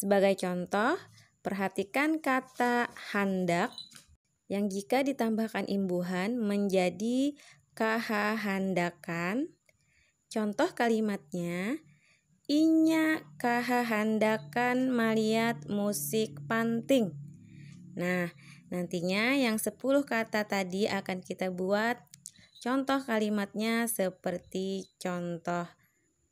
Sebagai contoh, perhatikan kata handak yang jika ditambahkan imbuhan menjadi kahahandakan. Contoh kalimatnya, inya kahahandakan maliat musik panting. Nah, nantinya yang 10 kata tadi akan kita buat contoh kalimatnya seperti contoh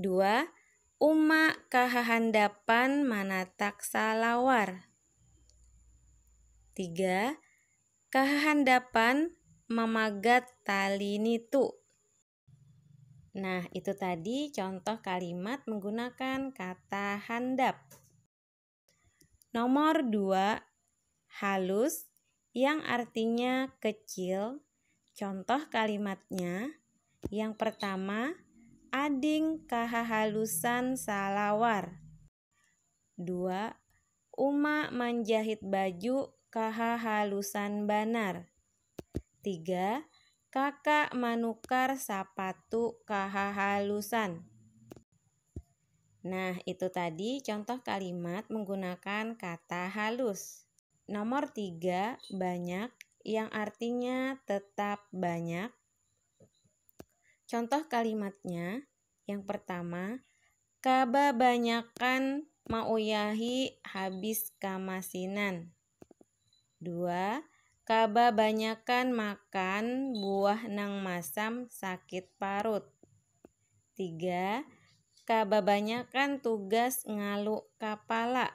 Dua, Uma kahahandapan manatak salawar. Tiga, kahahandapan mamagat tali nitu. Nah, itu tadi contoh kalimat menggunakan kata handap. Nomor dua, halus yang artinya kecil. Contoh kalimatnya yang pertama, ading kahahalusan salawar. Dua, uma manjahit baju kahahalusan banar. Tiga, Kakak manukar sapatu kahahalusan. Nah, itu tadi contoh kalimat menggunakan kata halus. Nomor tiga, banyak yang artinya tetap banyak. Contoh kalimatnya yang pertama, kababanyakan mauyahi habis kamasinan. Dua, kababanyakan makan buah nang masam sakit parut. Tiga, kababanyakan tugas ngalu kapala.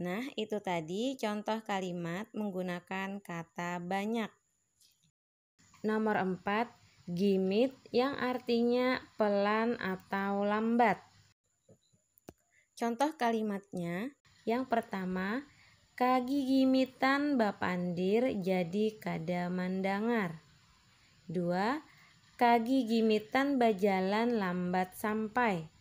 Nah, itu tadi contoh kalimat menggunakan kata banyak. Nomor empat, gimit yang artinya pelan atau lambat. Contoh kalimatnya, yang pertama, kagigimitan bapandir jadi kada mandangar. Dua, kagigimitan bajalan lambat sampai.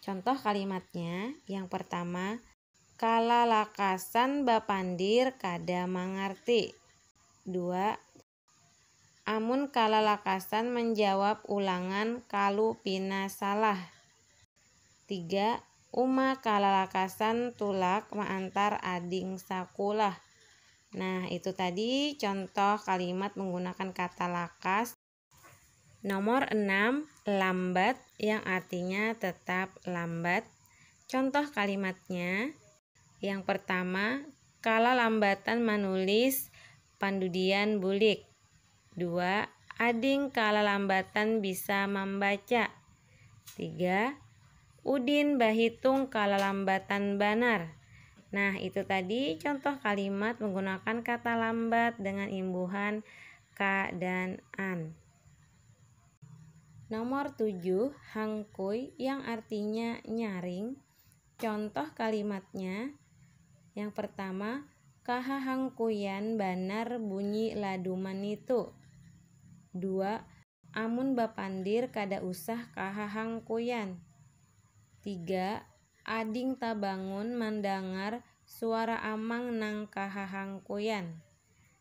Contoh kalimatnya, yang pertama, Kalalakasan bapandir kada mangarti. Dua, Amun kalalakasan manjawab ulangan kalu pina salah. Tiga, Uma kalalakasan tulak maantar ading sakulah. Nah, itu tadi contoh kalimat menggunakan kata lakas. Nomor enam, lambat yang artinya tetap lambat. Contoh kalimatnya, yang pertama, kalalambatan manulis pandudian bulik. Dua, ading kalalambatan bisa mambaca. Tiga, udin bahitung kalalambatan banar. Nah, itu tadi contoh kalimat menggunakan kata lambat dengan imbuhan Ka dan an. Nomor tujuh, hangkui yang artinya nyaring. Contoh kalimatnya, yang pertama, kahahangkuian banar bunyi laduman nitu. Dua, amun bapandir kada usah kahahangkuian. Tiga, ading tabangun mandangar suara amang nang kahahangkuian.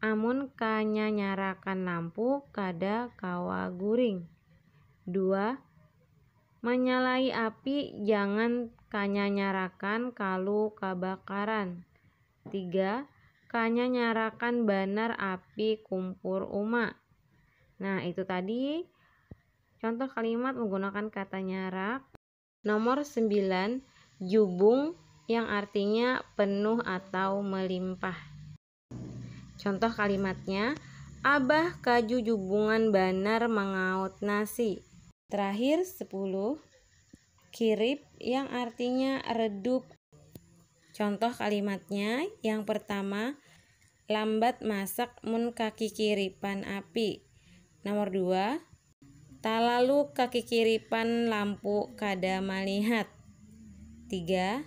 Amun kanya nyarakan lampu kada kawa guring. Dua, Manyalai api jangan kanya nyarakan kalu kabakaran. Tiga, Kanya nyarakan banar api kumpur uma. Nah, itu tadi contoh kalimat menggunakan kata nyarak. Nomor sembilan, Jubung yang artinya penuh atau melimpah. Contoh kalimatnya, Abah kajujubungan banar mangaut nasi. Terakhir, sepuluh, kirip yang artinya redup. Contoh kalimatnya, yang pertama, Lambat masak mun kakikiripan api. Nomor dua, Talalu kakikiripan lampu kada malihat. Tiga.